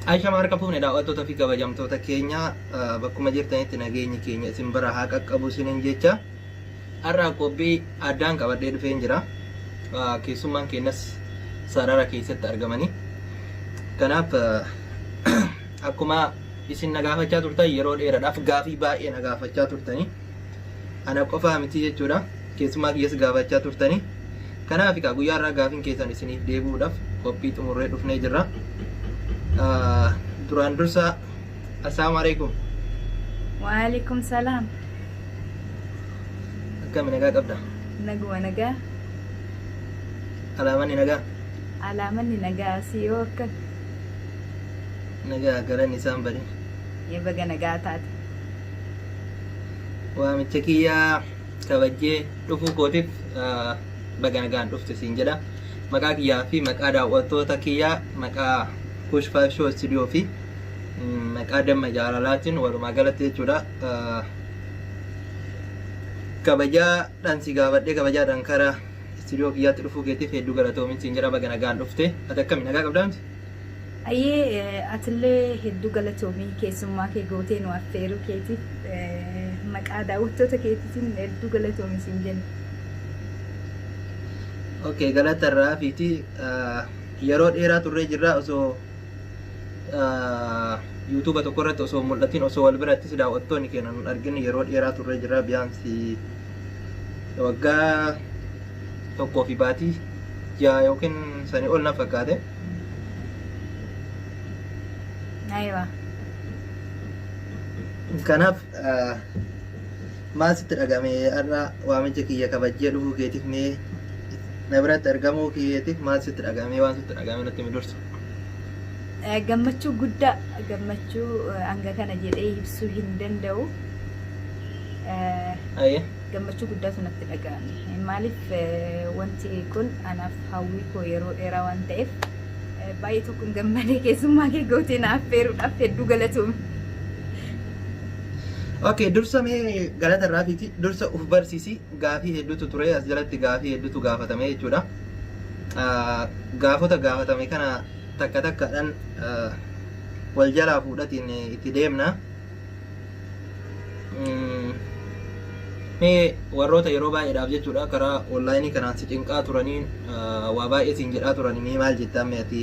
Ashama harka fuune daawwattoota fi kabajamtoota keenya bakkuma jirtanitti nageenyi keenya isin bira haa qaqqabu isinin jecha har'a qophii addaan qabadhee dhufeen jira. Keessummaan keenyas sarara keessatti argamanii. Kanaaf akkuma isin nagaafachaa turtan yeroo dheeraadhaaf gaafii baay'ee nagaafachaa turtanii. Ana qofaa miti jechuudha. Keessumaa kiyyas gaafachaa turtanii. Kanaaf egaa guyyaa irraa gaafiin keessan isiniif deebi'uudhaaf qophii xumurree dhufnee jirra. Duraan dursa assalaamu alaikum. Waalaikum salaam. Akkami nagaa qabda? Naguma nagaa. Alaamanni nagaa? Alaamanni nagaa si yoo akka. Nagaa galanni isaan badin. Baga nagaa taate. waamicha kiyya kabajjee dhufuu kootiif ah, baga nagaan dhufte siin jedha maqaa kiyyaa fi maqaa daawwattoota kiyyaa maqaa kush 5 show studio fi mm, maqaa damma jaalalaatiin walumaa galatti jechuudha ah, kabajaadhaan si gaafadhee kabajaadhaan karaa istiidiyoo kiyyaatti dhufuu keetiif hedduu galatoomi siin jedha baga nagaan dhufte ati akkami nagaa qabdaa miti Hayyee atillee hedduu galatoomii keessummaa kee gootee nu affeeruu keetiif maqaa daawwattoota keetiitiin hedduu galatoomi siin jenna. Okay, galata irraa hafiiti yeroo dheeraa turree jirra osoo yuutuuba tokko irratti osoo mul'atin osoo wal birattis daawwattoonni keenya nun argin yeroo dheeraa turree jirra biyaansi waggaa tokkoo fi baatii ja'a yookiin sanii ol na fakkaate. Aywa. Kanaaf ah, maal sitti dhagame har'a waamicha kiyya kabajjee dhufuu keetiif mee na biratti argamuu keetiif maal sitti dhagame waan sitti dhagame natti himi dursa. Eh, gammachuu guddaa gammachuu eh, hanga kana jedhee ibsuu hin danda'u. Eh, Ayyee. gammachuu guddaatu natti dhaga'ame. Maaliif wanti kun anaaf hawwii koo yeroo dheeraa waan ta'eef baay'ee tokkoon gammadee keessummaa kee gootee na affeeruudhaaf hedduu galatoomi. Okay, dursa mee galata irraa fiti dursa uf barsiisi gaafii hedduutu ture as jalatti gaafii hedduutu gaafatame jechuudha. Ah, Gaafota gaafatame kana takka takkaadhaan ah, wal jalaa fuudhatiin itti deemna. Mm, Mee warroota yeroo baay'eedhaaf jechuudha karaa onlaayinii kanaan si cinqaa turaniin ah, waa baay'ee siin jedhaa turan mee maal jettaa mee ati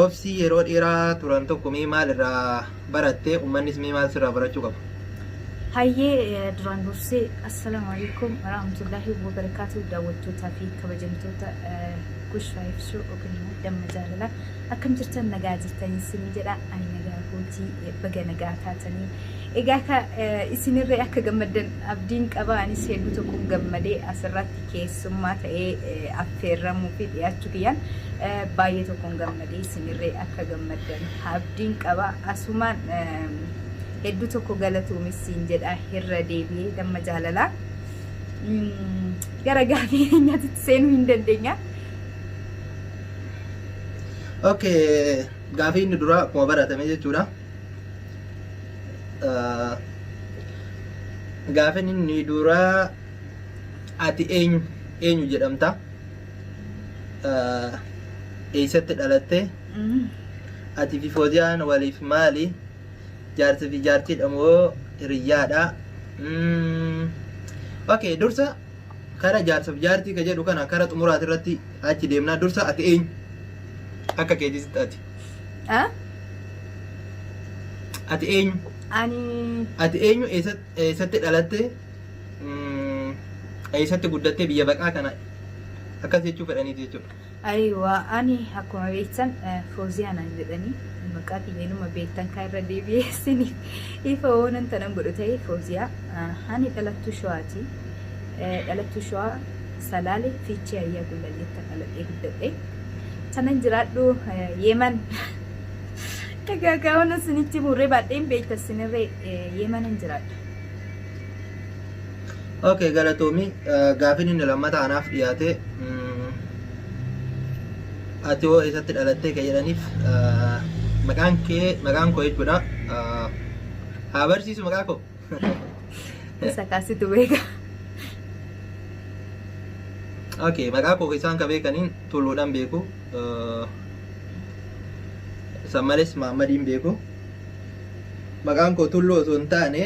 obsii yeroo dheeraa turan tokko mee maal irraa baratte ummannis mee maal sirraa barachuu qaba? Hayyee eh, duraan dursee assalaamu alaikum warahmatullaahi wabarakaatu daawwattootaa fi kabajamtoota eh, Gush Live Show yookiin immoo damma jaalalaa akkam jirtan nagaa jirtan isinii jedha ani nagaa kooti baga nagaa taatanii egaa ka isinirree akka gammaddan abdiin qaba anis hedduu tokkoon gammadee asirratti keessummaa ta'ee affeerramuu fi dhiyaachuu kiyyaan baay'ee tokkoon gammadee isinirree akka gammaddan abdiin qaba asumaan hedduu tokko galatoomis siin jedha irra deebi'ee damma jaalalaa gara gaafii keenyaatti seenuu hin dandeenya. Okay. Gaafii inni duraa akkuma baratame jechuudha. Gaafin inni duraa ati eenyu eenyu jedhamta? Eessatti dhalatte? Ati fi Fooziyaan waliif maali? Jaarsi fi jaartiidha moo hiriyyaadha? Okay, dursa Kara jaarsaf jaartii ka jedhu kana kara xumuraati irratti achi deemnaa dursa ati eenyu? Akka keetiisitti ati. Ah? Ati eenyu? Ani Ati eenyu eessat- eessatti dhalatte? Mm, Eessatti guddattee biyya baqaa kana akkas jechuu fedhaniiti jechuudha. Aywa ani akkuma beektan fooziyaa naan jedhanii maqaa kiyya inuma beektan kaa irra deebi'ee isiniif ifa woonan tanan godhu ta'e fooziyaa ani dhalattuu shawaati dhalattuu shawaa salaale fiichee ayyaa gullalleettan dhaladhee guddadhe tanan jiraadhu yeeman egaa kaa woonan isinitti murree baadheen beekta isinirree yeemanan jiraadha Okay galatoomi gaafin inni lammata anaaf dhiyaate ati hoo eessatti dhalattee kan jedhaniif maqaan kee maqaan koo jechuudha haa barsiisu maqaa koo Isa kaasitu beeka. okay maqaa koo isaan ka beekaniin tulluudhaan beeku san malees maammadiin beeku maqaan koo tulluu osoo hin taane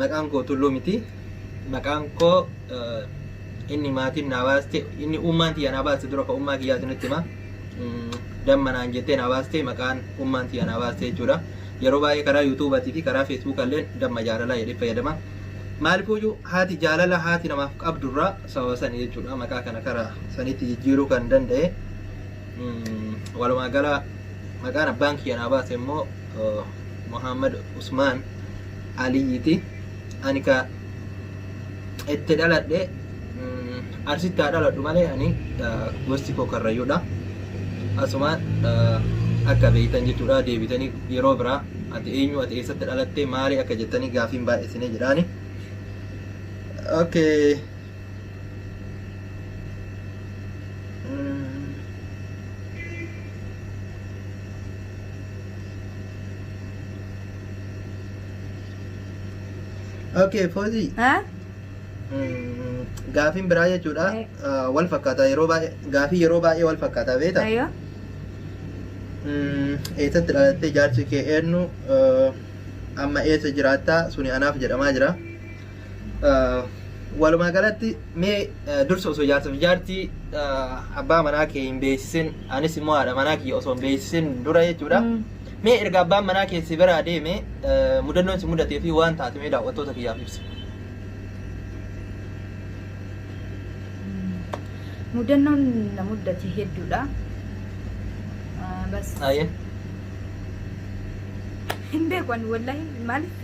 Maqaan koo Tulluu miti. Maqaan koo inni maatiin naa baaste inni ummaan tiyya naa baaste dura ka ummaa kiyyaa isinitti hima. Damma naan jettee naa baaste maqaan ummaan tiyya naa baaste jechuudha. Yeroo baay'ee karaa yuutuubaatii fi karaa feesbuukaa illee damma jaalalaa jedhee fayyadama. Maalifuyyuu haati jaalala haati namaaf qabdurraa sababa sani jechuudha maqaa kana karaa sanitti jijjiiruu kan danda'e. Walumaa gala maqaan abbaan kiyya naa baase immoo Muhammad Usmaan Aliyyiti. Ani ka itti dhaladhe Arsitti haa dhaladhu malee ani gosti koo Karrayyuudha. Asumaan akka beektan jechuudha deebitanii yeroo biraa ati eenyu ati eessatti dhalattee maali akka jettanii gaafiin baay'isine jedhaani. Okay. Okay, Foozii. Haa? Mm, Gaafiin biraa jechuudha. Eh. Ah, Wal fakkaata yeroo baay'ee gaafii yeroo baay'ee wal fakkaata beekta. Ayyoo. Mm, Eessatti dhalattee jaarsi kee eenyu Ah, amma eessa jiraattaa suni anaaf jedhamaa jira. Walumaa galatti mee dursa osoo jaarsa fi jaartii abbaa manaa kee hin beeksisin anis immoo haadha manaa kiyya osoo hin beeksisin dura jechuudha. Mee erga abbaan manaa kee si biraa deeme mudannoon si mudatee fi waan taate mee daawwattoota kiyyaaf ibsi. Mudannoon na mudate hedduudha. Bas. Hin beeku ani wallahi maaliif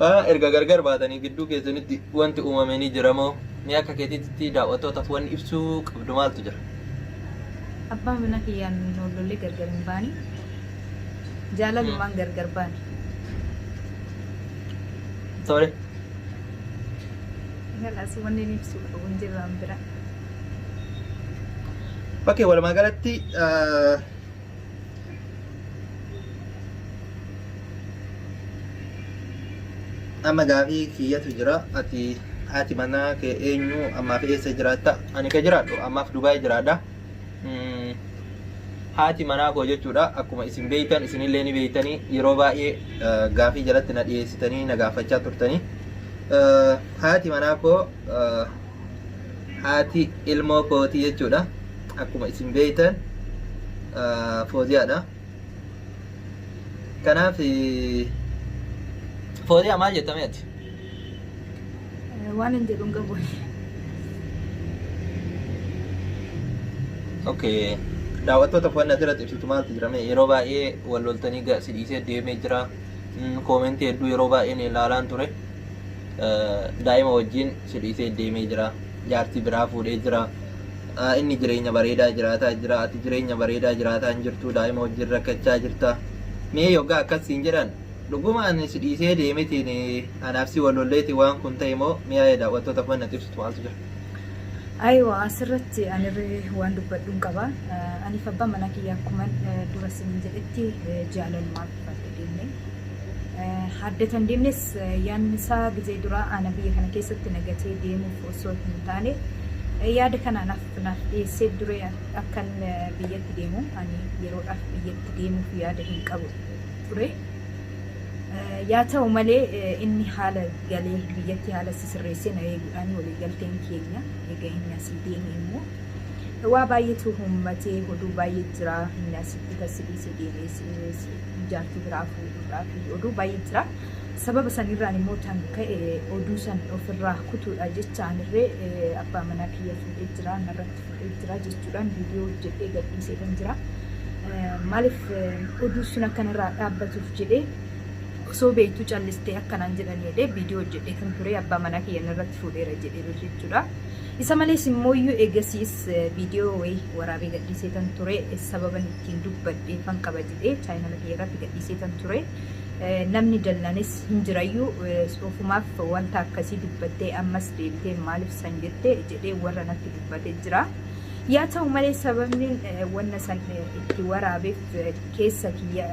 A, Erga gargar baatanii gidduu keessanitti wanti uumame ni jira moo? Mee akka keetiitti daaw'attootaaf wanni ibsuu qabdu maaltu jira? Abbaa manaa kiyyaan wal lollee gargar hin baane. Jaalalumaan gargar baane. Tole. Kalaas wanni inni ibsuu qabu hin jiru an bira. Okay, walumaa galatti ah, amma gaafii kiyyatu jira ati haati manaa kee eenyu ammaaf eessa jiraatta ani ka jiraadhu ammaaf dubaay jiraadha Mm, haati manaa koo jechuudha akkuma isin beeytan isinillee ni beeytanii yeroo baay'ee eh, gaafii jalatti na dhiyeessitanii na gaafachaa turtanii Eh, haati manaa koo eh, Haati ilmoo kootii jechuudha. Akkuma isin beektan Fooziyaadha. Kanaaf Fooziyaa maal jetta mee ati? Waan hin jedhu hin qabu. Okay. Daawwattoota wanni asirratti ibsitu maaltu jira mee yeroo baay'ee wal loltanii ga- si dhiisee deemee jira. Mm, Koomentii hedduu yeroo baay'een ilaalaan ture. Eh, Daa'ima wajjin Si dhiisee deemee jira. Jaartii biraa fuudhee jira. Inni jireenya bareedaa jiraataa jira. Ati jireenya bareedaa jiraataa hin jirtu. Daa'ima wajjin rakkachaa jirta. Mee yoggaa akkas siin jedhan dhuguma ani si dhiisee deemetiin anaaf si wal lolleetiin waan kun ta'e moo mee yaada daawwattootaaf waan natti ibsitu maaltu jira? Aywa asirratti ani waan dubbadhuun qaba. Aniif abbaan manaa kiyya akkuman dura siin jedhetti jaalaluma. Baatee deemne. Haaddetan deemnes yaadni isaa gizee duraa ana biyya kana keessatti na gatee deemuuf osoo hin taane yaada kana anaaf naaf dhiyeessee dure akkan biyyatti deemu ani yeroodhaaf biyyatti deemuuf yaada hin qabu ture. Yaa ta'u malee inni haala galee biyyatti haala si sirreessee na eeguudhaan waliigalteen keenya egaa inni asii deeme immoo waa baay'eetu uummatee hoduu baay'ee jira inni asitti tassi dhiisee deemees jaartii biraa fuudhuudhaa fi oduu baay'ee jira. Sababa sanirraan immoo tan ka'e oduu san ofirraa kutuudha jechaan irree abbaa manaa kiyya fuudhee jira narratti fuudhee jira jechuudhaan viidiyoo hojjedhee gadhiisee kan jira. Maaliif oduu sun akkanarraa dhaabbatuuf jedhee osoo beektuu callistee akkanaan jedhan jedhee viidiyoo hojjedhee kan ture abbaa manaa kiyya narratti fuudheera jedheera jechuudha. Isa malees immooyyuu eegasiis viidiyoo wayii waraabee gadhiiseetan ture. Sababan ittiin dubbadheefan qaba jedhee chaayinala kiyya irratti gadhiiseetan ture. Namni dallanis hin jirayyu. Ofumaaf wanta akkasii dubbattee ammas deebitee maaliif san jette jedhee warra natti dubbate jira. Yaa ta'u malee sababniin wanna san itti waraabeef keessa kiyya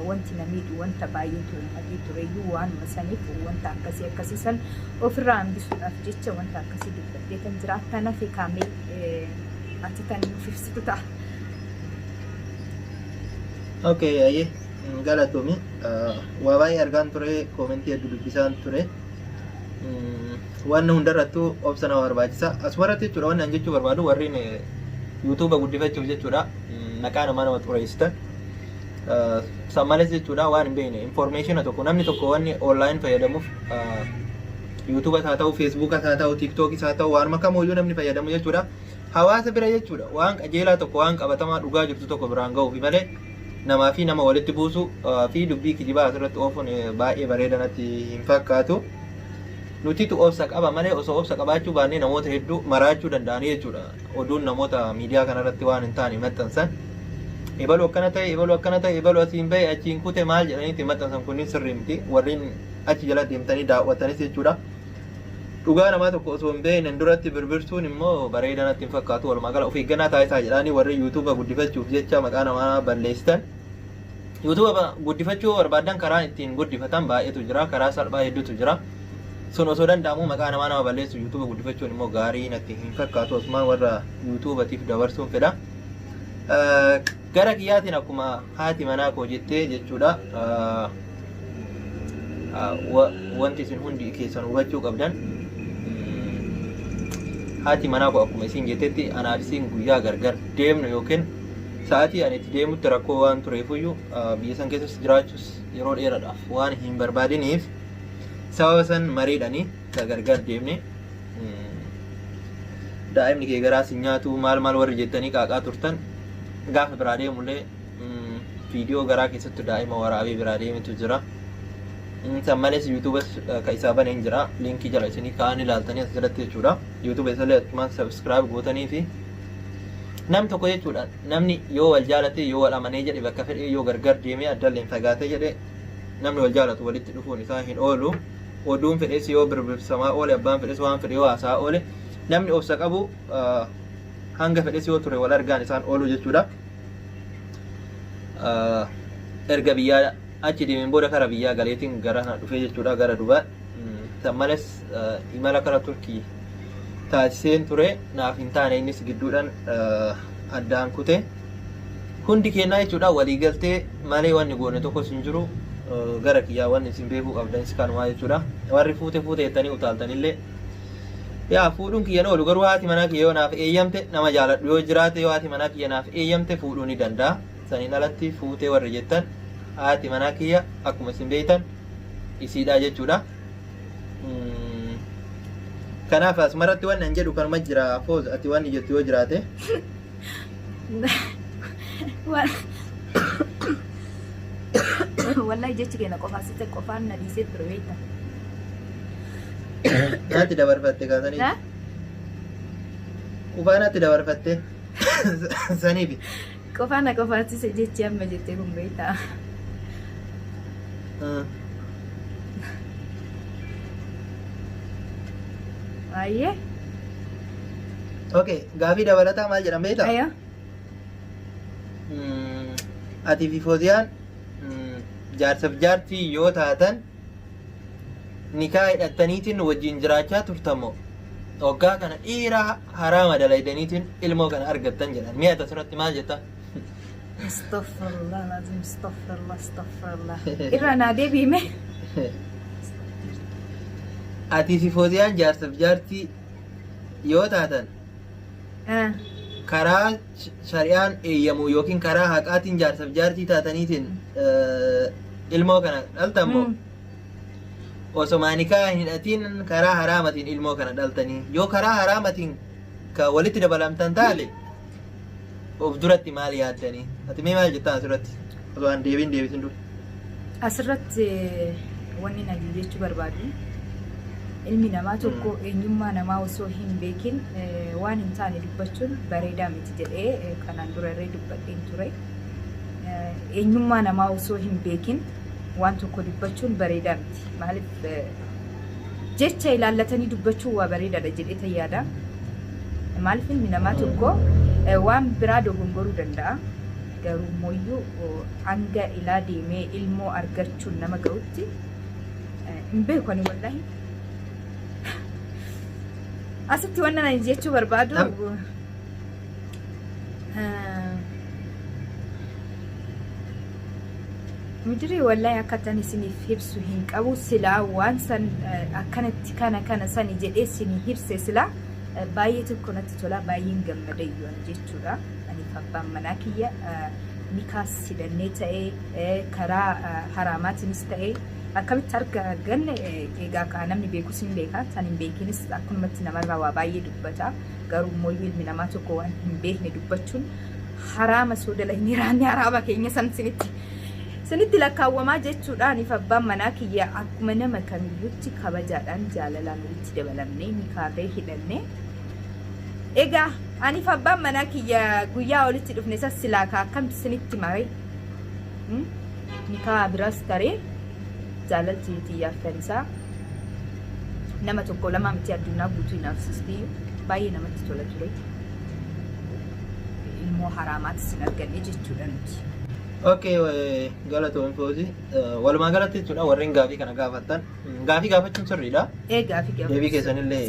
wanti na miidhu wanta baay'eetu uummatee tureyyuu waanuma saniif wanta akkasii akkasii san Ofirraa hambisuudhaaf jecha wanta akkasii dubbadhee tan jiraattan hafe kaamee ati tan nuuf ibsitu ta'a. Okay, ayyee hin galatomi. Waa baay'ee argaan ture, koomentii hedduu dubbisaan ture. Waan hundarrattuu obsa nama barbaachisa. Asumarratti jechuudha waan ani jechuu barbaadu warreen yuutuuba guddifachuuf jechuudha maqaa namaa nama xureessitan. San malees jechuudha waan hin beekne informeeshina tokko namni tokko wanni online fayyadamuuf yuutuubas haa ta'u feesbuukas haa ta'u tiiktookis haa ta'u waanuma kamooyyuu namni fayyadamu jechuudha hawaasa bira jechuudha waan qajeelaa tokko waan qabatamaa dhugaa jirtu tokko biraan ga'uufi malee namaa fi nama walitti buusuu fi dubbii kijibaa asirratti oofuun baay'ee bareeda natti hin fakkaatu. Nutitu obsa qaba malee osoo obsa qabaachuu baannee namoota hedduu maraachuu danda'anii jechuudha. oduun namoota miidiyaa kanarratti waan hin taane maxxansan ebalu akkana ta'e ebalu akkana ta'e ebalu asiin bahe achiin kute maal jedhaniiti maxxansan kunniin sirrii miti warreen achi jala deemtanii daawwatanis jechuudha. Dhugaa namaa tokko osoo hin beeknen duratti birbirsuun immoo bareedaa natti hin fakkaatu walumaa gala of eeggannaa taasisaa jedhaanii warri yuutuuba guddifachuuf jecha maqaa namaa balleessitan YouTube guddifachuu yoo barbaaddan karaa ittiin guddifatan baay'eetu jira. Karaa salphaa hedduutu jira. Sun osoo danda'amu maqaa namaa nama balleessu YouTube guddifachuun immoo gaarii natti hin fakkaatu. Asumaan warra YouTubatiif dabarsuun fedha. Gara kiyyaatiin akkuma haati manaa koo jettee jechuudha. Wanti isin hundi keessan hubachuu qabdan haati manaa koo akkuma isin jettetti anaaf isin guyyaa gargar deemnu yookiin Sa'aatii ani itti deemutti rakkoo waan tureefuyyuu biyya san keessas jiraachuus yeroo dheeraadhaaf waan hin barbaadiniif sababa san mariidhanii gargar deemne daa'imni kee garaa si nyaatu maal maal warri jettanii qaaqaa turtan gaafa biraa deemullee viidiyoo garaa keessatti daa'ima waraabee biraa deemetu jira. San malees yuutuubas kan isaa baneen jira liinkii jala isinii kaa'anii ilaaltanii as jalatti jechuudha. Yuutuuba isallee achumaan sabiskiraayib gootanii fi Nam tokko jechuudha namni yoo wal jaalatee yoo wal amanee jedhe bakka fedhee yoo gargar deemee addalleen fagaatee jedhe namni wal jaalatu walitti dhufuun isaa hin oolu. Oduun fedhes yoo birbirsamaa oole abbaan fedhes waan fedhe yoo haasaa oole namni obsa qabu hanga fedhes yoo ture wal argaan isaan oolu jechuudha. Erga biyyaa achi deemeen booda kara biyyaa galeetiin gara kana dhufee jechuudha gara dubaa. San malees imala kara Turkii taasiseen ture naaf hin taane innis gidduudhaan addaan kute. Hundi keenyaa jechuudha waliigaltee malee wanni goone tokkos hin jiru gara kiyyaa wanni isin beekuu qabdanis kanumaa jechuudha. Warri fuute fuute jettanii utaaltanillee yaa fuudhuun kiyya ni oolu garuu haati manaa kiyya yoo naaf eeyyamte nama jaaladhu yoo jiraate yoo haati manaa kiyya naaf eeyyamte fuudhuu ni danda'a. saniin alatti fuutee warri jettan haati manaa kiyya akkuma isin beektan isiidhaa jechuudha. Mm. Kanaaf asmaratti wanni an jedhu kanuma jira fooz ati wanni jettu yoo jiraate wallahi jechi keenya qofaa sitte qofaan na dhiisee ture beekta. naatti dabarfatte kaasanii Haa? qufaa naatti dabarfatte saniifi. Qofaa na qofaachise jechi amma jette kun beektaa. Baay'ee. Okay, gaafii dabalataa maal jedhan beektaa? Ayoo. Mm, Ati fi Fooziyaan mm, jaarsaaf jaartii yoo taatan Nikaa hidhattaniitiin wajjiin jiraachaa turtan moo hoggaa kana dhiira haraama dalaydaniitiin ilmoo kana argattan jedhan mee ata turatti maal jetta Astaghfirullah lazim astaghfirullah astaghfirullah. Irra naa deebiime. atii fi fooziyaan jaarsaf jaartii yoo taatan karaa shari'aan eeyyamu yookiin karaa haqaatiin jaarsaf jaartii taataniitiin eh, ilmoo kana dhaltan moo Mm. osoma nikaa hin hidhatiin karaa haraamatiin ilmoo kana dhaltanii yoo karaa haraamatiin ka walitti dabalamtan taate of duratti maal yaaddanii ati mee maal jettaan asirratti osoo an deebiin deebisin dura Asirratti wanni nani jechuu barbaadu ilmi namaa tokko eenyummaa namaa osoo hin beekin waan hin taane dubbachuun bareedaa miti jedhee kanaan dura irree dubbadheen ture. Eenyummaa namaa osoo hin beekin waan tokko dubbachuun bareedaa miti. Maaliif jecha ilaallatanii dubbachuun waa bareedaadha jedhee tayyaada. Maaliif ilmi namaa tokko waan biraa dogongoruu danda'a. Garuummoyyuu hanga ilaa deemee ilmoo argachuun nama ga'utti hin beeku ani wallahi. Asitti wanna ani jechuu barbaadu Midirii wallahi akka tan isiniif hibsu hin qabu silaa waan san akkanatti kana kana sani jedhee isinii hibse silaa baay'ee tokko natti tola baay'een gammada iyyuu ani jechuudha. Aniif abbaan manaa kiyya nikaas hidhannee ta'ee karaa haraamaatiinis ta'ee akkamitti arga ganne egaa kaa namni beekus hin beeka tan hin beekinis akkunumatti namarraa waa baay'ee dubbata garuu immoo ilmi namaa tokko waan hin beekne dubbachuun haraama soodala hin hiraanne haraama keenya san sinitti sinitti lakkaawwamaa jechuudha aniif abbaan manaa kiyya akkuma nama kamiyyutti kabajaadhaan jaalalaan walitti dabalamnee nikaarree hidhannee egaa Aniif abbaan manaa kiyya guyyaa walitti dhufne san silaa ka akkamti isinitti mare Hmm? nikaa biraas taree jaalalti tiyyaaf tanisaa nama tokko lamaa miti addunyaa guutuu inaafsisti baay'ee namatti tola ture ilmoo haraamaati sin arganne jechuudha nuti. Okay, eh, galatoon foozi. Walumaa galatti jechuudha warreen gaafii kana gaafattan. Gaafii gaafachuun sirriidha. Eegaa fi Deebii keessanillee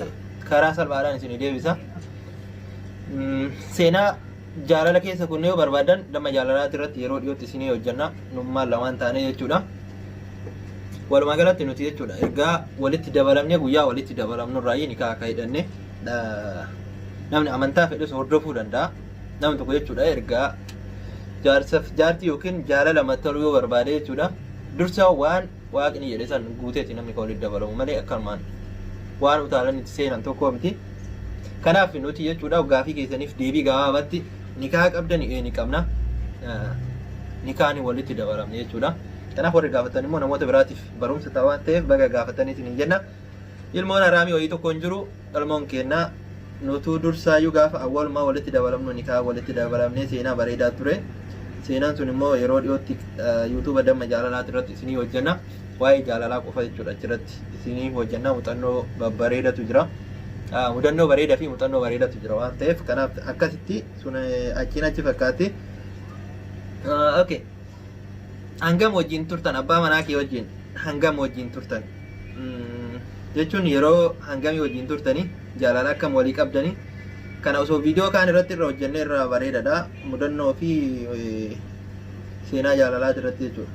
karaa salphaadhaan isin deebisa. Mm, seenaa jaalala keessa kunnee yoo barbaadan damma jaalalaati irratti yeroo dhiyootti isinii hojjanna nummaan lamaan taanee jechuudha. Walumaa galatti nuti jechuudha ergaa walitti dabalamnee guyyaa walitti dabalamnu irraa ni kaa akka hidhanne dha- namni amantaa fedhes hordofuu danda'a. Namni tokko jechuudha ergaa jaarsaf jaartii yookiin jaalala mattaluu yoo barbaade jechuudha dursa waan waaqni jedhe san guuteeti namni kan walitti dabalamu malee akkanumaan waan utaalanitti seenan tokko miti. Kanaaf nuti jechuudha gaafii keessaniif deebii gabaabatti nikaa qabdani ee ni qabna. Nikaani walitti dabalamne jechuudha. Kanaaf warri gaafatan immoo namoota biraatiif barumsa ta'a waan ta'eef baga gaafatanii isin hin jenna. Ilmoon haraamii wayii tokko hin jiru ilmoon keenna nutuu dursaayyuu gaafa awwalumaa walitti dabalamnu nikaa walitti dabalamnee seenaa bareedaa ture. Seenaan sun immoo yeroo dhiyootti yuutuuba damma jaalalaati irratti isinii hojjenna. waa'ee jaalalaa qofa jechuudha achirratti isinii hojjannaa muuxannoo babbareedatu jira. Ah, Mudannoo bareedaa fi muuxannoo bareedatu jira waan ta'eef kanaaf akkasitti sun eh, achiin achi fakkaatti. Ah, Okay. Hangam wajjin turtan abbaa manaa kee wajjin hangam wajjin turtan Mm, jechuun yeroo hangamii wajjin turtanii jaalala akkam walii qabdanii kana osoo viidiyoo kaan irratti irra hojjennee irraa bareedadha mudannoo fi eh, seenaa jaalalaa irratti jechuudha.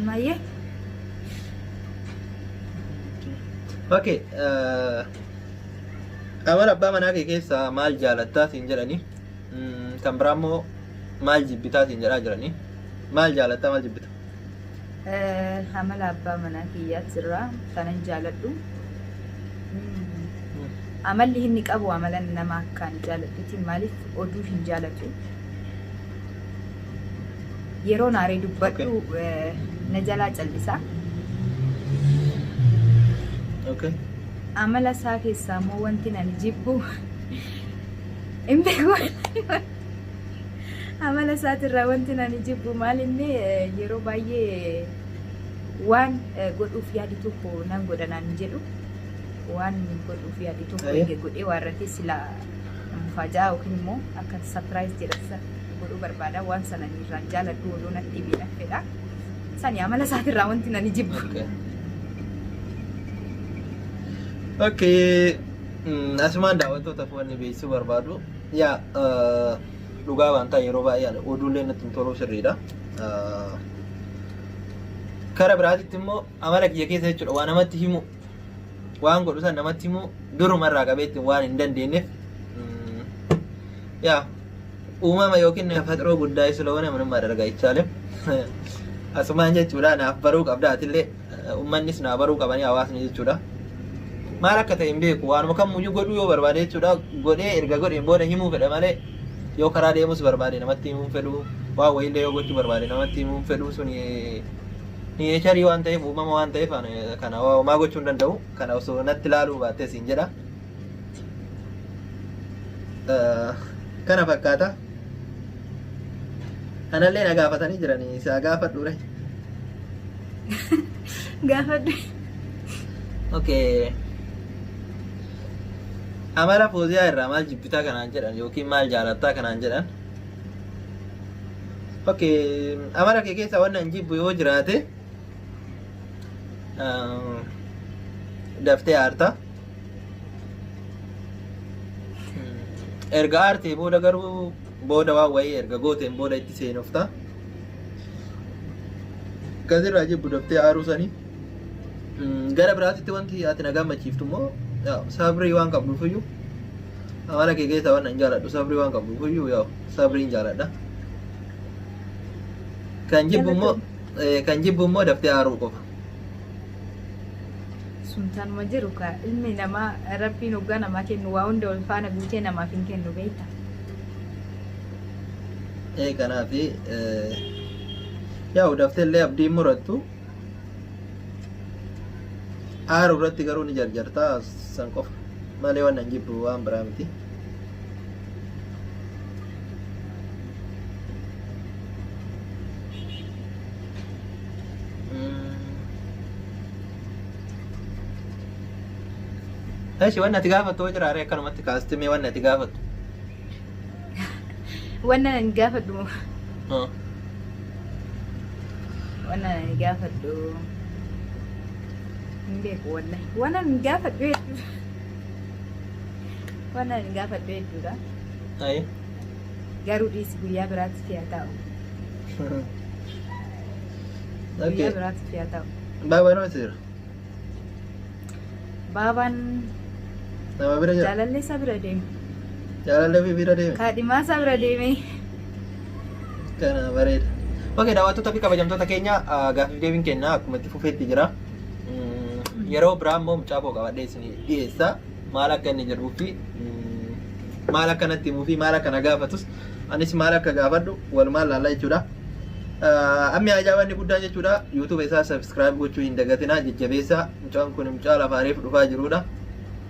Maayye. Okay. eh, Amala abbaa manaa kee keessaa maal jaalattaa siin jedhani. Mm, Kan biraa immoo maal jibbitaa siin jedhaa jirani. Maal jaalattaa maal jibbita? Amala abbaa manaa kiyyaat sirraa kanan jaaladhu. Amalli inni qabu amala nama akkaan jaaladhuti maaliif oduu hin jaalatu. Yeroo naaree dubbadhu na jalaa callisa. Okay. Amala isaa keessaa immoo wanti nani jibbu hin beeku. Amala isaatirraa wanti ani jibbu maal inni yeroo baay'ee waan godhuuf yaadu tokko nan godha naan hin jedhu. Waan godhuuf yaadu tokko eega godhee waan irratti sila mufaajaa yookiin immoo akka sapiraayiz jedhasa godhuu barbaada. Waan sana ani irraan jaaladhu odoo natti himee nan fedha. Sani amala isaatirraa wanti ani jibbu. Okay. Okay. mm, Asumaan daawwattootaaf wanni beeksisuu barbaadu. Yaa dhugaa waan ta'a yeroo baay'ee ani oduullee natti hin toluu sirriidha. Kara biraatitti immoo amala kiyya keessa jechuudha waa namatti himu waan godhu san namatti himu duruma irraa qabeetti waan hin dandeenyeef yaa uumama yookiin faxiroo guddaa isla wane minummaa dargaa ichaalim asumaan jechuudha naaf baruu qabda atillee Ummannis naa baruu qabanii hawaasni jechuudha. Maal akka ta'e hin beeku waanuma kammuyyuu godhuu yoo barbaade jechuudha godhee erga godheen booda himuu fedha malee yoo karaa deemus barbaade namatti himuu hin fedhu waan wayiillee yoo gochuu barbaade namatti himuu hin fedhu suni neecharii waan ta'eef uumama waan ta'eef ani kana homaa gochuu hin danda'u kana osoo natti laaluu baattee siin jedha. kana fakkaata anallee na gaafatanii jiranii isaa gaafadhuure gaafadhu okay amala fooziyaa irraa maal jibbitaa kanaan jedhan yookiin maal jaalattaa kanaan jedhan okay amala kee keessa wanna hin jibbu yoo jiraate daftee aartaa erga aartee booda garuu booda waan wayii erga gooteen booda itti seenofta kasirraa jibbu daftee aaruu sanii Mm, gara biraatitti wanti ati na gammachiiftu immoo yaa, sabrii waan qabduuf iyyuu amala kee keessaa waan hin jaaladhu sabrii waan qabduuf iyyuu yaa sabriin jaaladha kan jibbu immoo eh, kan jibbu immoo daftee aaruu qofa sun tanuma jiru ka ilmi namaa rabbiin hoggaa namaa kennu waa hunda wal faana guutee namaaf hin kennu beekta ee kanaaf yaa udafteellee abdiin murattu aaru irratti garuu ni jarjartaa san qofa malee waan hin jibbu waan biraa miti Eshi wanni ati gaafattu hoo jiraaree akkanumatti kaasti mee wanni ati gaafattu. Wanna nan gaafadhu moo? Hoo. Wanna nan gaafadhu. Hin beeku wallahi. Wanna nan gaafadhu hedduu. Wanna nan gaafadhu hedduudha. Ayi. Garuu dhiisi guyyaa biraatti si'a taa'u. Guyyaa biraatti fiyaa ta'u. Baabaan hoo jira? Baabaan Nama bira jira? jaalallee isaa bira deeme. Jaalallee ofii bira deeme? Kaadhimaa isaa bira deeme. Kana bareeda. Okey, daawwattoota fi kabajamtoota keenya ah, gaaffiif deebiin kenna akkuma itti fufeetti jira. Mm, Yeroo biraa immoo mucaa koo qabadhee isin dhiyeessa. Maal akka inni jedhuu fi mm, maal akka natti himuu fi maal akka na gaafatus anis maal akka gaafadhu walumaan laalla jechuudha. Ammi haajaa wanni guddaan jechuudha YouTube isaa subscribe gochuu hin dagatinaa jajjabeessaa mucaan kun mucaa lafaa reefu dhufaa jiruudha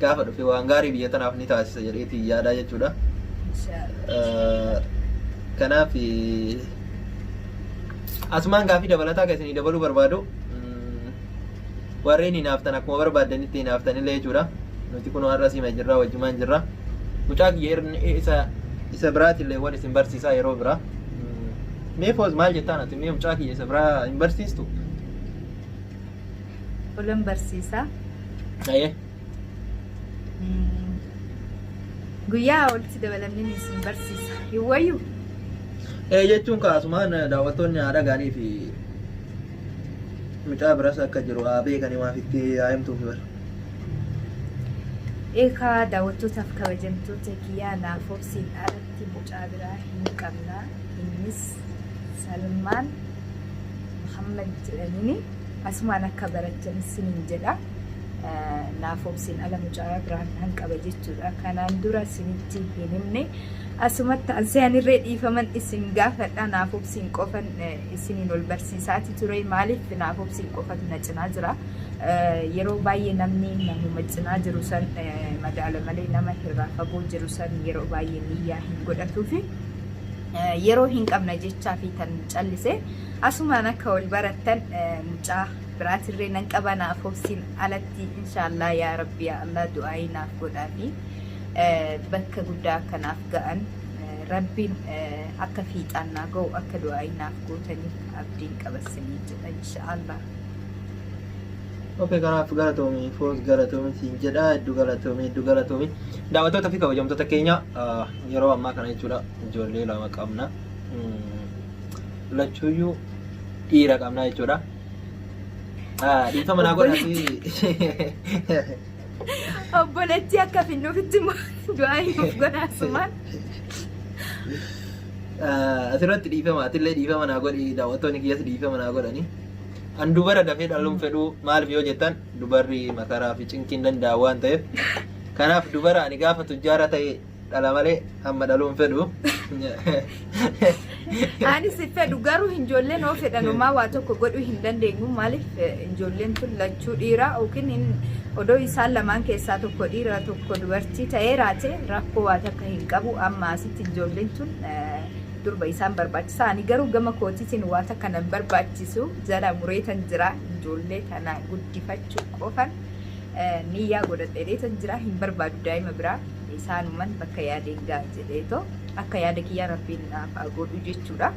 gaafa dhufe waan gaarii biyya tanaaf ni taasisa jedheeti yaadaa jechuudha kanaaf asumaan gaafii dabalataa kan isinii dabaluu barbaadu warreen hinaaftan akkuma barbaaddanitti hinaaftan illee jechuudha nuti kun har'a siima jirra wajjumaan jirra mucaa kiyya isa isa biraatillee waan isin barsiisaa yeroo biraa Mee foos maal jettaan ati mee mucaa kiyya isa biraa hin barsiistu? Olan barsiisaa. Ayee. Mm. Guyyaa walitti dabalamnee ni isin barsiisa. Hin wayyu. Ee jechuun kaasumaan daawwattoonni haadha gaarii fi mucaa biras akka jiru haa beekanii maaf itti haa himtuuf bara. Eekaa daawwattootaaf kabajamtoota kiyyaa naaf obsiin ala Ati mucaa biraa hin qabna innis salmaan muhammad jedhanini asumaan akka barachan sinin jedha naaf obsin ala mucaa biraan nan qaba jechuudha kanaan dura sinitti hin himne asumatti anseanirree dhiifaman isin gaafadha naaf obsin qofan isiniin ol barsiisaati ture maaliif naaf obsii qofatu na cinaa jira yeroo baay'ee namni namuma cinaa jiru san madaala malee nama irraa fagoo jiru san yeroo baay'ee niyyaa hin godhatuufi yeroo hin qabna jechaa fi tan callise asumaan akka ol barattan mucaa biraatirree nan qaba naaf obsiin alatti inshaallah yaa rabbi yaa allah du'aayii naaf godhaa fi bakka guddaa akkanaaf ga'an Rabbiin akka fiixaan naa gahu akka du'aa'ii naaf gootaniif abdiin qaba isiniin jedha insha'Allah. Ok kanaaf galatoomi foos galatoomi siin jedha hedduu galatoomi hedduu galatoomi daawwattoota fi kabajamtoota keenya ah, yeroo ammaa kana jechuudha ijoollee lama qabna Mm, lachuuyyuu dhiira qabna jechuudha Ah, dhiifama naa godhaati Obboleettii akka finnuuf itti immoo du'aa himuuf gonaasumaan. Asirratti dhiifama atillee dhiifama naa godhi daawwattoonni kiyyas dhiifama naa godhani. An dubara dafee dhaluun fedhuu maaliif yoo jettan dubarri makaraa fi cinqiin danda'a waan ta'eef. Kanaaf dubara ani gaafa tujjaara ta'e dhala malee amma dhaluun fedhu. Ani si fedhu garuu ijoolleen oo fedhan homaa waa tokko godhuu hin dandeenyu maaliif eh, ijoolleen tun lachuu dhiira yookiin in- odoo isaan lamaan keessaa tokko dhiira tokko dubartii ta'ee raate rakkoo waa takka hin qabu amma asitti ijoolleen tun eh, durba isaan barbaachisa ani garuu gama kootiitiin waa takka nan barbaachisu jala mureetan jira ijoollee tana guddifachuu qofan eh, niyyaa godhadheetan jira hin barbaadu daa'ima biraa. isaanuman bakka yaadeen ga'a jedheetoo akka yaada kiyyaa rabbiin naaf haa godhu jechuudha.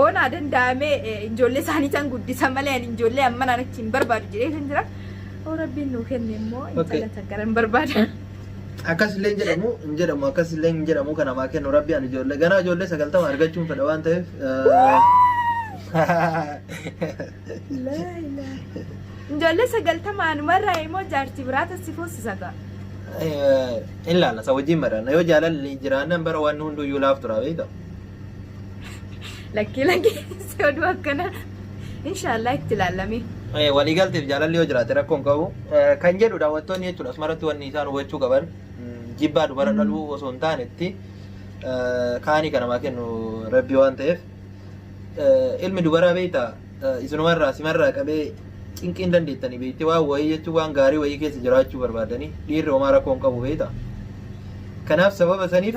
Oonaa danda'amee ijoollee isaanii tan guddisa malee ani ijoollee ammanaan achi hin barbaadu jedhee kan jira. Oo rabbiin nuu kenne immoo intala takkara hin barbaada. Akkas illee hin jedhamu hin jedhamu akkas illee hin jedhamu kan namaa kennu rabbi ani ijoollee ganaa ijoollee sagaltama argachuun fedha waan ta'eef. Laa ilaaha. Ijoollee sagaltama anumarraa immoo jaartii biraa tassi foosisa ta'a. Eh, in laalla isa wajjin mari'anna yoo jaalalli jiraannan bara waan hunduu iyyuu laaf tura beekta Lakkii lakkii si oduu akkana. Inshaallah itti ilaallamee. Eh, waliigalteef jaalalli yoo jiraate rakkoon qabu Eh, kan jedhu daawwattoonni jechuudha asumarratti wanni isaan hubachuu qaban mm, jibbaa dubara dhaluu osoo hin taanetti eh, kaanii kanamaa kennu rabbii waan ta'eef ilmi dubaraa beektaa isinuma irraa sima irraa qabee cinqiin dandeettanii beekti waan wayii jechuun waan gaarii wayii keessa jiraachuu barbaadanii dhiirri homaa rakkoo hin qabu beektaa. Kanaaf sababa saniif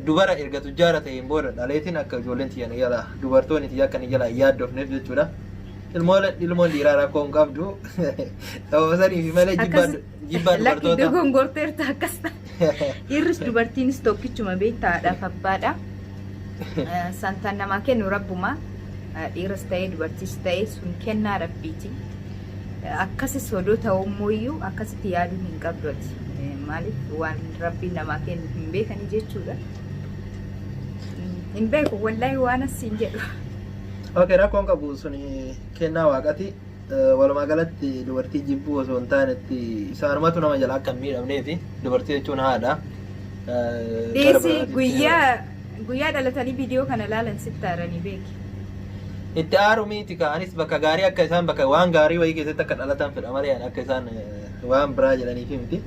dubara erga tujjaara ta'een booda dhaleetiin akka ijoolleen tiyya na jalaa dubartoonni tiyya akka na jalaa hin yaaddofneef jechuudha. Ilmoon ilmoon dhiiraa rakkoo hin qabdu sababa saniif malee jibbaa Jibbaa Lakki dubartoota. dogongorteerta akkas ta'a. Dhiirris dubartiinis tokkichuma beektaa haadhaaf abbaadha. Eh, Santaan namaa kennu rabbuma. Eh, Dhiiras ta'ee dubartiis ta'ee sun kennaa rabbiiti. Eh, Akkasis odoo ta'uu immoo iyyuu akkasitti yaaduu hin qabdu ati. Eh, Maaliif waan rabbiin namaa kennu hin beekani jechuudha. Mm, Hin beeku wallaahi waan asiin jedhu. Okay, rakkoon qabu suni kennaa waaqati. Walumaa galatti dubartii jibbuu osoo hin taanetti isaanumatu nama jala akka hin miidhamneefi dubartii jechuun haadha. Dhiisi guyyaa guyyaa dhalatanii viidiyoo kana laalan sitti aaranii beeki. Itti aaru miiti ka anis bakka gaarii akka isaan bakka waan gaarii wayii keessatti akka dhalatan fedha malee ani akka isaan waan biraa jedhaniifi miti.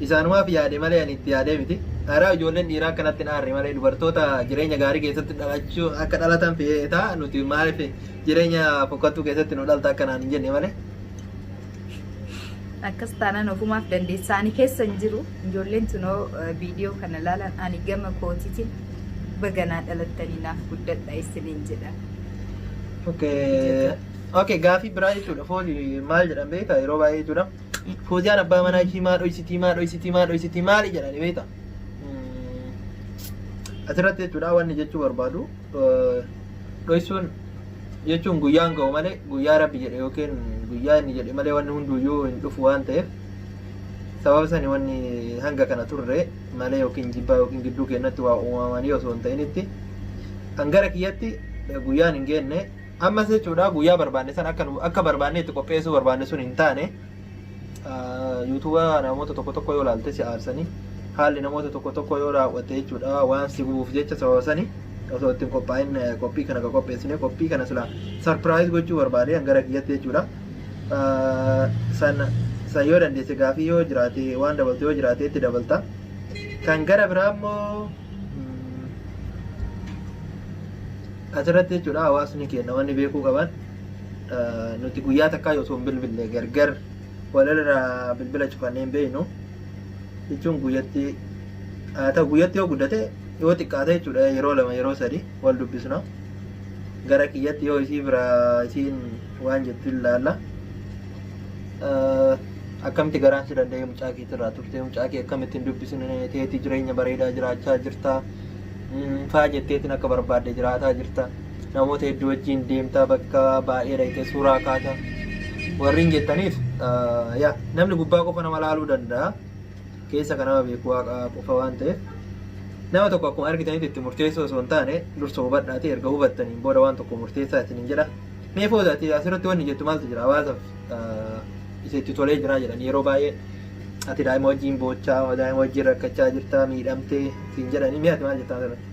Isaanumaaf yaade malee ani itti yaadee miti. Araa ijoolleen dhiiraa akkanatti hin aarre malee dubartoota jireenya gaarii keessatti dhalachuu akka dhalatan feetaa nuti maaliif Jireenya fokkattuu keessatti nu dhalta akka naan hin jenne malee. Akkas taanaan ofumaaf dandeessa. Ani keessa hin jiru. Ijoolleen tunoo viidiyoo kana ilaalan ani gama kootiitiin baganaa dhalattanii naaf guddadha isiniin jedha. Okay. Okay, gaafii biraa jechuudha. Foozi maal jedhan beekta yeroo baay'ee jechuudha. Fooziyaan abbaa manaa ishii maa dhoysitii maa dhoysitii maa dhoysitii maali jedhani beekta. Asirratti jechuudha wanni jechuu barbaadu. dhoysuun jechuun guyyaan ga'u malee guyyaa rabbi jedhe yookiin guyyaa inni jedhe malee wanni hunduuyyuu hin dhufu waan ta'eef sababa sani wanni hanga kana turre malee yookiin jibbaa yookiin gidduu keenyatti waa uumamanii osoo hin ta'initti kan gara kiyyatti guyyaan hin geenne ammas jechuudha guyyaa barbaanne san akka nu- akka barbaanne itti qopheessuu barbaanne sun hin taane Yuutuuba namoota tokko tokko yoo laalte si aarsanii haalli namoota tokko tokko yoo raawwatte jechuudha waan si gubuuf jecha sababa sani osoo ittiin qophaa'in qophii kana qopheessine qophii kana silaa sarpiraayiz gochuu barbaade hangara kiyyatti jechuudha. San san yoo dandeesse gaafii yoo jiraate waan dabaltu yoo jiraate itti dabalta. Kan gara biraa immoo asirratti jechuudha hawaasni keenya wanni beekuu qaban nuti guyyaa takkaa osoo hin bilbille gargar walirraa bilbila cufannee hin beeknu jechuun guyyatti haa ta'u guyyatti yoo guddate yoo xiqqaate jechuudha yeroo lama yeroo sadi wal dubbisna gara kiyyatti yoo isii bira isiin waan jettu hin laalla akkamitti garaan si danda'ee mucaa keetirraa turtee mucaa kee akkamitti hin dubbisne teetii jireenya bareedaa jiraachaa jirtaa faa jetteetiin akka barbaadde jiraataa jirta namoota hedduu wajjiin deemta bakka baay'ee dhayxee suuraa kaata warriin jettaniif yaa namni gubbaa qofa nama laaluu danda'a keessa kan nama beeku waaqa qofa waan ta'eef nama tokko akkuma argitanitti itti murteessoo osoo hin taane dursa hubadhaati erga hubattaniin booda waan tokko murteessaa isin hin jedha mee foodaati asirratti wanni jettu maaltu jira hawaasaaf isa itti tolee jiraa jedhan yeroo baay'ee ati daa'ima wajjin boochaa daa'ima wajjin rakkachaa jirtaa miidhamtee siin jedhanii mee ati maal jettaa asirratti?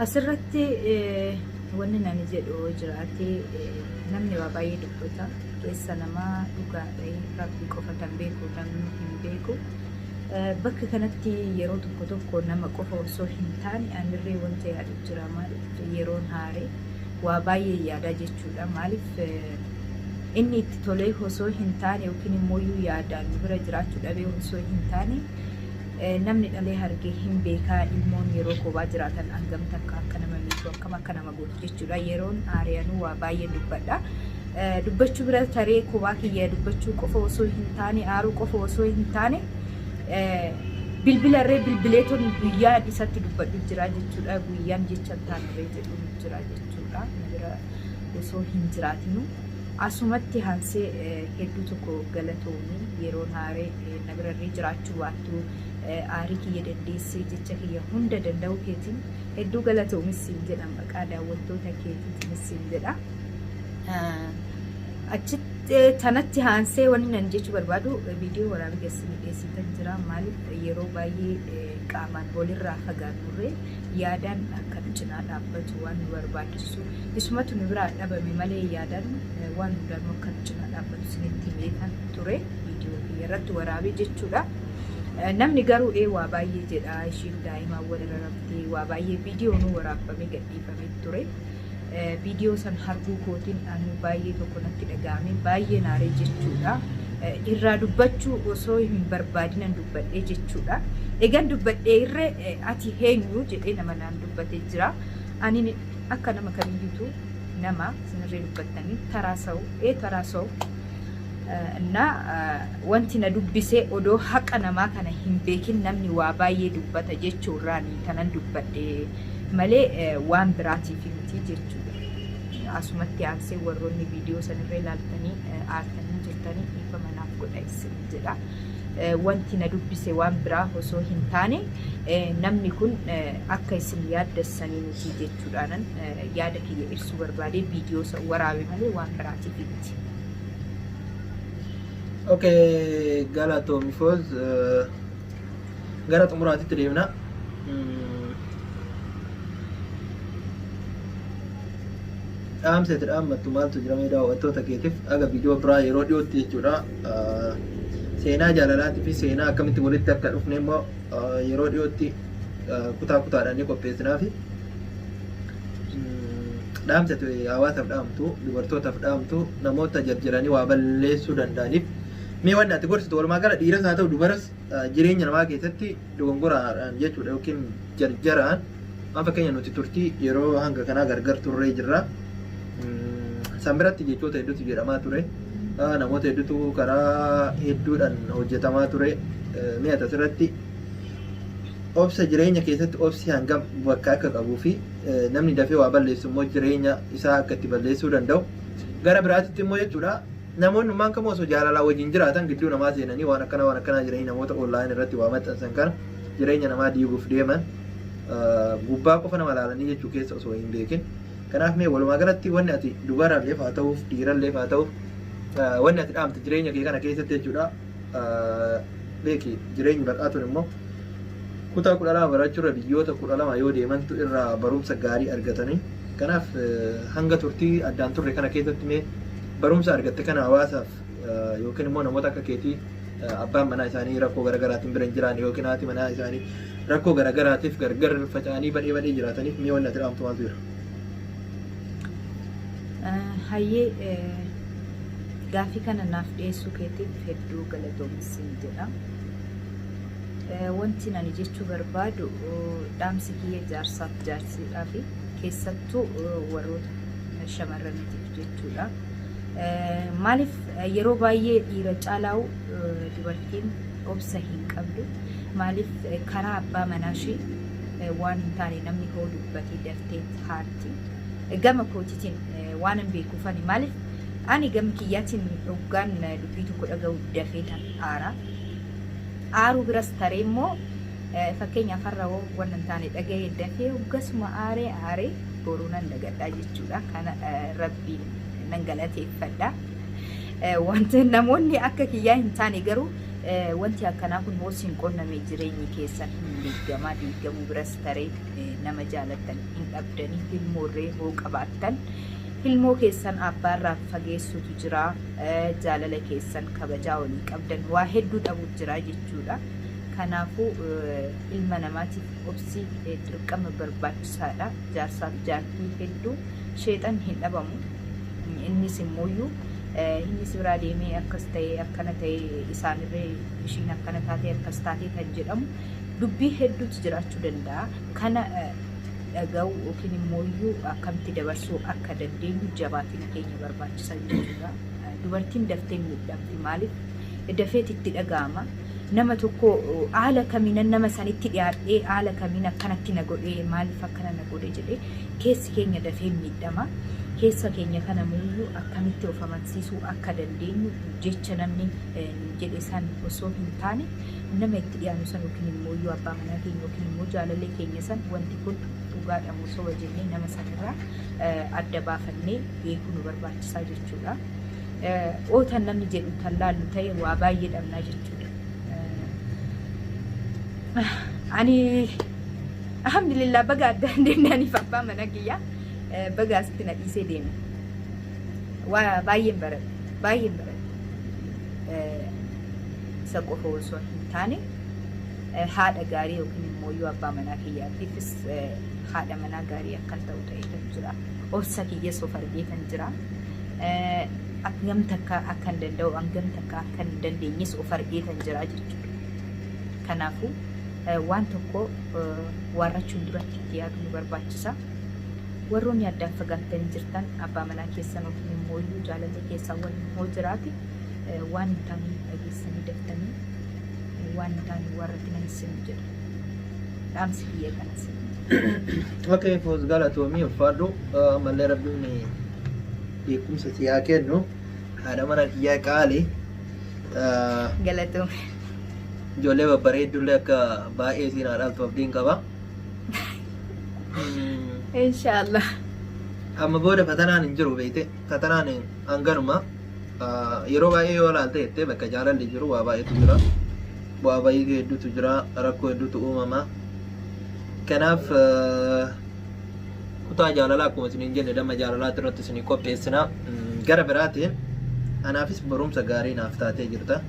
Asirratti eh, wanni nani jedhu yoo jiraate eh, namni waa baay'ee dubbata keessa namaa dhugaa ta'e rabbi qofa kan beeku namni hin beeku. Eh, Bakka kanatti yeroo tokko tokko nama qofa osoo hin taane anillee wanta yaadu jira maaliif yeroon haare waa baay'een yaada jechuudha. Maaliif inni itti tolee osoo hin taane yookiin immoo yaadaan nu bira jiraachuu dhabee osoo hin taane namni dhalee hargee hin beekaa ilmoon yeroo koobaa jiraatan hangam takka akka nama miidhu akkam akka nama godhu jechuudha. Yeroon aari'anuu waa baay'een dubbadha. Dubbachuu bira taree koobaa kiyya dubbachuu qofa osoo hin taane aaruu qofa osoo hin taane bilbila irree bilbileeton guyyaan isatti dubbadhu jira jechuudha. Guyyaan jecha hin taane irree jira. Maaltu nu jira jechuudha. Na bira osoo hin jiraatinu. Asumatti haansee hedduu tokko galatoomi yeroo naaree na birarree jiraachuu baattu aarii kiyya dandeessee jecha kiyya hunda danda'uu keetiin hedduu galatoomis siin jedhan maqaa daawwattoota keetiitiinis siin jedha. Achitti tanatti haansee wanni nan jechuu barbaadu viidiyoo waraabee keessanii dhiyeessitan jira maaliif yeroo baay'ee qaamaan walirraa fagaannurree yaadaan akka nu cinaa dhaabbatu waan nu barbaachisuuf isumatu nu biraa dhabame malee yaadaan waan hundaanuu akka nu cinaa dhaabbatu isinitti himeetan ture viidiyoo kiyya irratti waraabee jechuudha. Namni garuu ee waa baay'ee jedha ishiin daa'imaan walirra raftee waa baay'ee viidiyoo nu waraabbamee gadhiifamee ture. Viidiyoo san harguu kootiin anuu baay'ee tokko natti dhaga'ame baay'ee naaree jechuudha. Irraa dubbachuu osoo hin barbaadinan dubbadhee jechuudha. Egan dubbadhee irre ati heenyu jedhee nama naan dubbatee jira. Ani akka nama kamiyyuutu nama sinirree dubbattanii taraa sa'u ee taraa sa'u na wanti na dubbisee odoo haqa namaa kana hin beekin namni waa baay'ee dubbata jechuurraani kanan dubbadhee. malee waan biraatiif miti jechuudha. Asumatti aansee warroonni viidiyoo sanirra ilaaltanii aartanii jirtanii dhiifama naaf godha isin jedha. Wanti na dubbise waan biraa osoo hin taane namni kun akka isin yaaddessanii miti jechuudhaanan yaada kiyya ibsuu barbaadee viidiyoo isa waraabe malee waan biraatiif miti. Okay, galatoomi foz. gara xumuraatitti deemna. Dhaamsa itti dhaammattu maaltu jira mee daawwattoota keetiif aga viidiyoo biraa yeroo dhiyootti jechuudha. Seenaa jaalalaatii fi seenaa akkamitti walitti akka dhufne immoo yeroo dhiyootti kutaa kutaadhaan ni qopheessinaafi. Dhaamsa itti hawaasaaf dhaamtu, dubartootaaf dhaamtu, namoota jarjaranii waa balleessuu danda'aniif mee wanni ati gorsitu walumaa gala dhiiras haa ta'u dubaras jireenya namaa keessatti dogongoraadhaan jechuudha yookiin jarjaraan amma fakkeenya nuti turtii yeroo hanga kanaa gargar turree jirra. San biratti jechoota hedduutu jedhamaa ture. Namoota hedduutu karaa hedduudhaan hojjetamaa ture. Mi'a asirratti obsa jireenya keessatti obsi hangam bakka akka qabuu fi namni dafee waa balleessu immoo jireenya isaa akka itti balleessuu danda'u. Gara biraatitti immoo jechuudha Namoonni ummaan kamuu osoo jaalalaan wajjin jiraatan gidduu namaa seenanii waan akkanaa waan akkanaa jedhanii namoota online irratti waa maxxansan kana jireenya namaa diiguuf deeman gubbaa qofa nama laalanii jechuu keessa osoo hin beekin. Kanaaf mee walumaa galatti wanni ati dubaralleef haa ta'uuf dhiiralleef haa ta'uuf wanni ati dhaamte jireenya kee kana keessatti jechuudha beeki jireenyi baqaatuun immoo kutaa kudha lama barachuurra biyyoota kudha lama yoo deemantu irraa barumsa gaarii argatanii kanaaf hanga turtii addaan turre kana keessatti mee Barumsa argatte kana hawaasaaf yookiin immoo namoota akka keetii abbaan manaa isaanii rakkoo garaagaraatiin bira hin jiraanne yookiin haati manaa isaanii rakkoo garaagaraatiif gargar faca'anii badhee badhee jiraataniif mi'a wanni ati dhaamtu maaltu jira? Hayyee gaaffii kana naaf dhiyeessuu keetiif hedduu galatoomi siin jedha. Wanti ani jechuu barbaadu dhaamsi kiyya jaarsaaf jaarsiidhaafi keessattuu warroota shamarraniitiif jechuudha. Maaliif yeroo baay'ee dhiira caalaa'u dubartiin obsa hin qabdu. Maaliif karaa abbaa manaa ishee waan hin taane namni hoo dubbatee daftee haatti. Gama kootiitiin waan hin beekuufani maaliif ani gama kiyyaatiin hoggaan dubbii tokko dhaga'u dafee tan aara. Aaruu biras taree immoo fakkeenyaaf har'a hoo waan hin taane dhaga'ee dafee hoggasuma aaree aaree boruu nan dagadhaa jechuudha kana rabbi nan galateeffadha wanti namoonni akka kiyyaa hin taane garuu wanti akkanaa kun hoos hin qonname jireenyi keessan hin diigamaa diigamuu biras taree nama jaalattan hin dhabdanii ilmoorree hoo qabaattan ilmoo keessan abbaarraa fageessutu jira jaalala keessan kabajaa walii qabdan waa hedduu dhabuuf jira jechuudha kanaafuu ilma namaatiif Obsi dirqama barbaachisaadha. Jaarsaaf jaartii hedduu sheexanni hin dhabamu. Innis immooyyuu inni si biraa deemee akkas ta'ee akkana ta'ee isaanirree ishiin akkana taatee akkas taatee kan jedhamu dubbii hedduutu jiraachuu danda'a. Kana dhaga'uu yookiin immooyyuu akkamitti dabarsuu akka dandeenyu jabaatina keenya barbaachisa jechuudha. Dubartiin daftee miidhamti maaliif? Dafeet itti dhaga'ama. nama tokko haala kamiinan nama sanitti dhiyaadhee haala kamiin akkanatti na godhee maaliif akkana na godhe jedhee keessi keenya dafee miidhama. Keessa keenya kana muuyyuu akkamitti of amansiisuu akka dandeenyu jecha namni nu jedhe san osoo hin taane nama itti dhiyaanu san yookiin immoo iyyuu abbaa manaa keenya yookiin immoo jaalalee keenya san wanti kun dhugaadha moo soba jennee nama sanirraa adda baafannee beekuu nu barbaachisaa jechuudha. o tan namni jedhu tan laallu ta'e waa baay'ee dhabnaa jechuudha. Ani alhamdulillah baga addaan deemnaaniif abbaa mana kiyyaa baga asitti na dhiisee deeme. Waa baay'een baradhe baay'een baradhe. Isa qofa osoo hin taane haadha gaarii yookiin immoo yoo abbaa manaa kiyyaatiifis haadha manaa gaarii akkan ta'u ta'eetan jira. obsa kiyya sof argeetan jira. Hangam takka akkan danda'u hangam takka akkan hin dandeenyes of argeetan jira jechuudha. Kanaafuu waan tokko waarrachuun duratti itti yaaduu nu barbaachisa. Warroonni addaan fagaattanii jirtan abbaa manaa keessan waliin immoo iyyuu jaalalli keessan waliin hoo jiraate waan hin taane hin dhageessanii daftanii waan hin taane warra tina hin sinu jedha. dhaamsi kiyya kanas. Okay, foos galatoomii uffaadhu ammallee rabbiin beekumsa si haa kennu haadha mana kiyyaa qaali Ah, Galatoom. ijoollee babbareeddullee akka baay'ee siin haa dhaaltu abdiin qaba. Mm, Inshaallah. Amma booda fatanaan hin jiru beekte fatanaan hanganuma Yeroo baay'ee yoo ilaalte jettee bakka jaalalli jiru waa baay'eetu jira. Bu'aa ba'ii hedduutu jira. Rakkoo hedduutu uumama. Kanaaf kutaa jaalalaa akkuma isiniin jenne damma jaalalaatti irratti isinii qopheessina. Gara biraatiin anaafis barumsa gaarii naaf taatee jirta.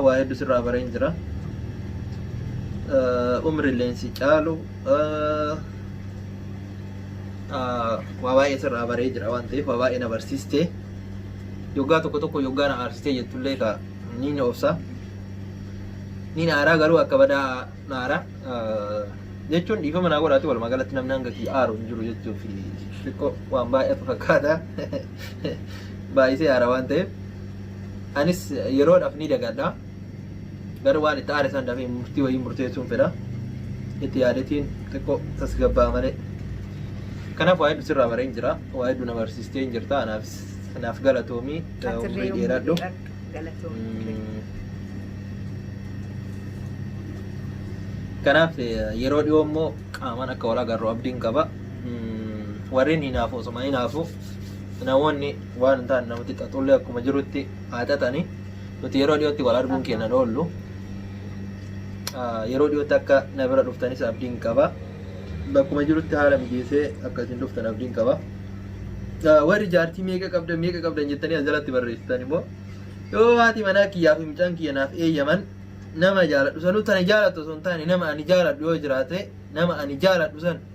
Waa hedduu sirraa bareen jira. Umri illee si caalu. waa baay'ee sirraa baree jira waan ta'eef waa baay'ee na barsiiste yoggaa tokko tokko yoggaa na aarsitee jettullee ka ni na obsa ni na aaraa garuu akka badaa na aaraa jechuun dhiifama naa godhaati walumaa galatti namni hanga kiyya aaru hin jiru jechuuf xiqqoo waan baay'atu fakkaata baay'isee aara waan ta'eef anis yeroodhaaf ni dagadha. Garuu waan itti aare san dafee murtii wayii murteessuun fedha. Itti yaadetiin xiqqoo tasgabbaa malee. Kanaaf waa hedduu sirraa bareen jira. Waa hedduu na barsiistee hin jirta. Anaaf naaf galatoomii. Atillee Umrii umrii dheeradhu. dheeradhu. Galatoomii. Mm. Kanaaf eh, yeroo dhiyoo immoo qaamaan akka wal agarru abdiin qaba. Mm, Warreen hinaafu osuma hinaafu namoonni waan hin taane namatti xaxullee akkuma jirutti haa xaxani. Nuti yeroo dhiyootti wal arguun keenan oollu. Yeroo dhiyootti akka na bira dhuftanis abdiin qaba. Bakkuma jirutti haala mijeessee akka isin dhuftan abdiin qaba. Warri jaartii meeqa qabdan meeqa qabdan jettanii as jalatti barreessitan immoo yoo haati manaa kiyyaa fi mucaan kiyya naaf eeyyaman nama jaaladhu sanuu tana jaalatu osoo hin taane nama ani jaaladhu yoo jiraate nama ani jaaladhu san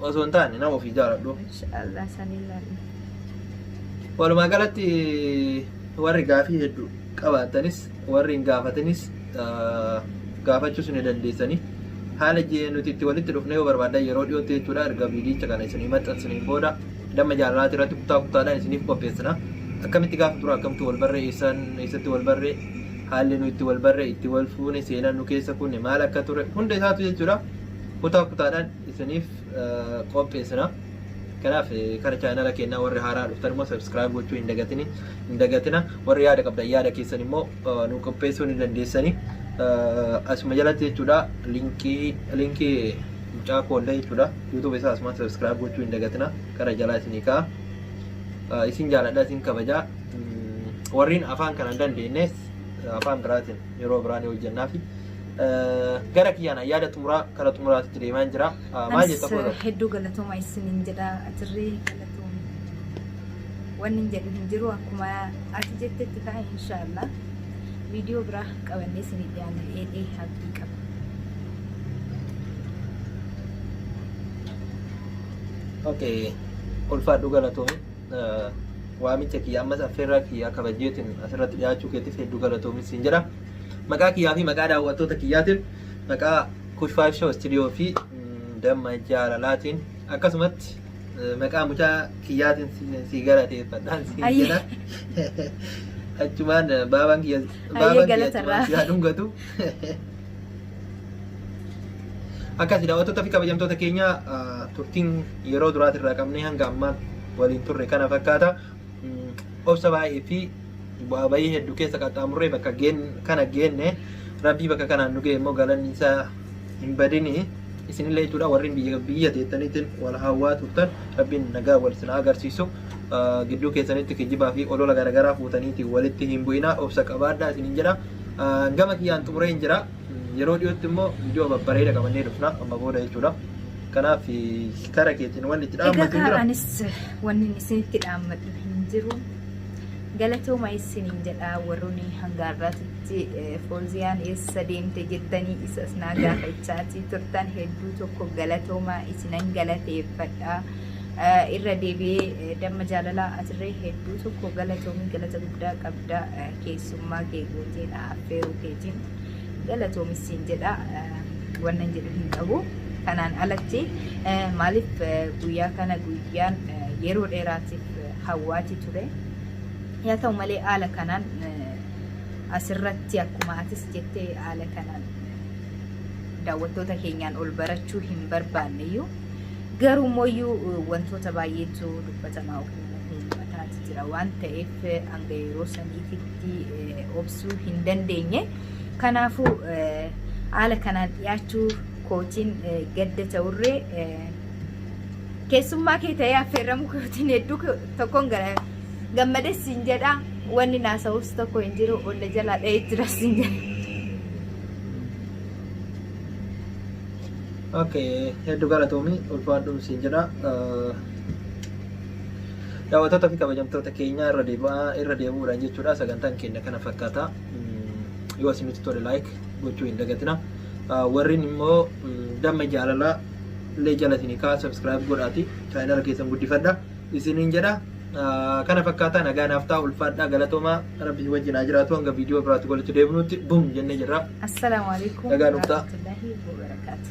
Osoo hin taane nama ofii jaaladhu. Inshaallah sanii laanna. Walumaa galatti warri gaafii hedduu qabaattanis warri hin gaafatinis ah, gaafachuus ni dandeessanii. Haala je- nuti itti walitti dhufne yoo barbaaddan yeroo dhiyootti jechuudha erga viidiyicha kana isinii maxxansiniin booda damma jaalalaati irratti kutaa kutaadhaan isiniif qopheessina. Akkamitti gaafa tura akkamitti wal barree eessaan eessatti wal barree haalli nu itti wal barree itti wal fuune seenaan nu keessa kunne maal akka ture hunda isaatu jechuudha. kutaa kutaadhaan isiniif qopheessina. Kanaaf kara chaanala keenyaa warri haaraa dhuftan immoo subscribe gochuu hin dagatini hin dagatina warri yaada qabdan yaada keessan immoo nu qopheessuu ni dandeessani. Asuma jalatti jechuudha linkii linkii mucaa koollee jechuudha YouTube isaa asuma subscribe gochuu hin dagatina kara jalaa isinii ka'a. Isin jaaladha isin kabajaa warreen afaan kana hin dandeenyes afaan biraatiin yeroo biraan hojjennaafi. Gara kiyyaan yaada xumuraa kara xumuraatitti deemaan jira. Maal jetta Anis koosa? hedduu galatooma isiniin jedha atirree galatoom wanni hin jedhu hin jiru akkuma ati jettetti ka'a inshaallah viidiyoo biraa qabannee isinii dhiyaanna eedhee abdii qaba. Okay. Ulfaadhu galatoomi. Waamicha kiyya ammas affeerraa kiyya kabajeetiin asirratti dhiyaachuu keetiif hedduu galatoomi siin jedha. Maqaa kiyyaa fi maqaa daawwattoota kiyyaatiin maqaa Kush Five Show Studio fi mm, damma jaalalaatiin akkasumatti eh, maqaa mucaa kiyyaatiin si- si galateeffadhaan si Ayyi. jedha. Achumaan eh, baabaan kiyya baabaan kiyya galatarraa. achumaan si haa dhungatu. Akkasi daawwattoota fi kabajamtoota keenya ah, turtiin yeroo duraatirraa qabnee hanga ammaan waliin turre kana fakkaata. obsa baay'ee fi bu'aa bayii hedduu keessa qaxxaamurree bakka geen kana geenne rabbii bakka kanaan nu ga'e immoo galanni isaa hin badini isinillee jechuudha warri biyya biyya teettaniitiin wal hawwaa turtan rabbiin nagaa wal isin haa agarsiisu Ah, gidduu keessanitti kijibaa fi olola garaagaraa fuutaniitiin walitti hin bu'inaa obsa qabaadhaa isinin jedha Ah, gama kiyyaan xumureen jira Yeroo dhiyootti immoo viidiyoo babbareeda qabannee dhufna amma booda jechuudha. Kanaaf kara keetiin wanni itti Egaa dhaammattu kaa jira. anis wanni isinitti dhaammadhu hin jiru. Galatooma isiniin jedha warroonni hanga har'aatitti eh, fooziyaan eessa deemte jettanii isas naa gaafachaatii turtan hedduu tokko galatooma isinan galateeffadha. Eh, Irra deebi'ee eh, damma jaalalaa atirree hedduu tokko galatoomi galata guddaa qabda eh, keessumaa. Ogummaa kee gootee na affeeruu keetiin galatoomis siin jedha wannan jedhu hin qabu. Kanaan alatti maaliif guyyaa kana guyyaan yeroo dheeraatiif hawwaati ture. Yaa ta'u malee haala kanaan asirratti akkuma atis jettee haala kanaan daawwattoota keenyaan ol barachuu hin barbaanneyyuu garuu immoo wantoota baay'eetu dubbatamaa ummataati jira waan ta'eef hanga yeroo saniititti obsuu hin dandeenye. Kanaafuu haala kanaan dhiyaachuu kootiin gadda ta'urree keessummaa kee ta'ee affeerramuu kootiin hedduu tokkoon gammades siin jedha wanni naasa'us tokko hin jiru olla jalaa dha'ee jira siin jedha. Okay, hedduu galatoomi ulfaadhuun siin jedha. Daawwattoota fi kabajamtoota keenya irra deebi'aa irra deebi'uudhaan jechuudha sagantaan keenya kana fakkaata. Yoo isinitti tole like gochuu hin dagatina. Warreen immoo damma jaalalaa illee jalatini kaa subscribe godhaati chaayinala keessan guddifadha isiniin jedha. Kana fakkaataa nagaa naaf ta'a ulfaadhaa galatoomaa rabbi si wajjin haa jiraatu hanga viidiyoo biraatti walitti deebinutti bum jennee jirra. Assalaamu alaikum Nagaa nuuf ta'a. warahmatullahi wabarakaatuh.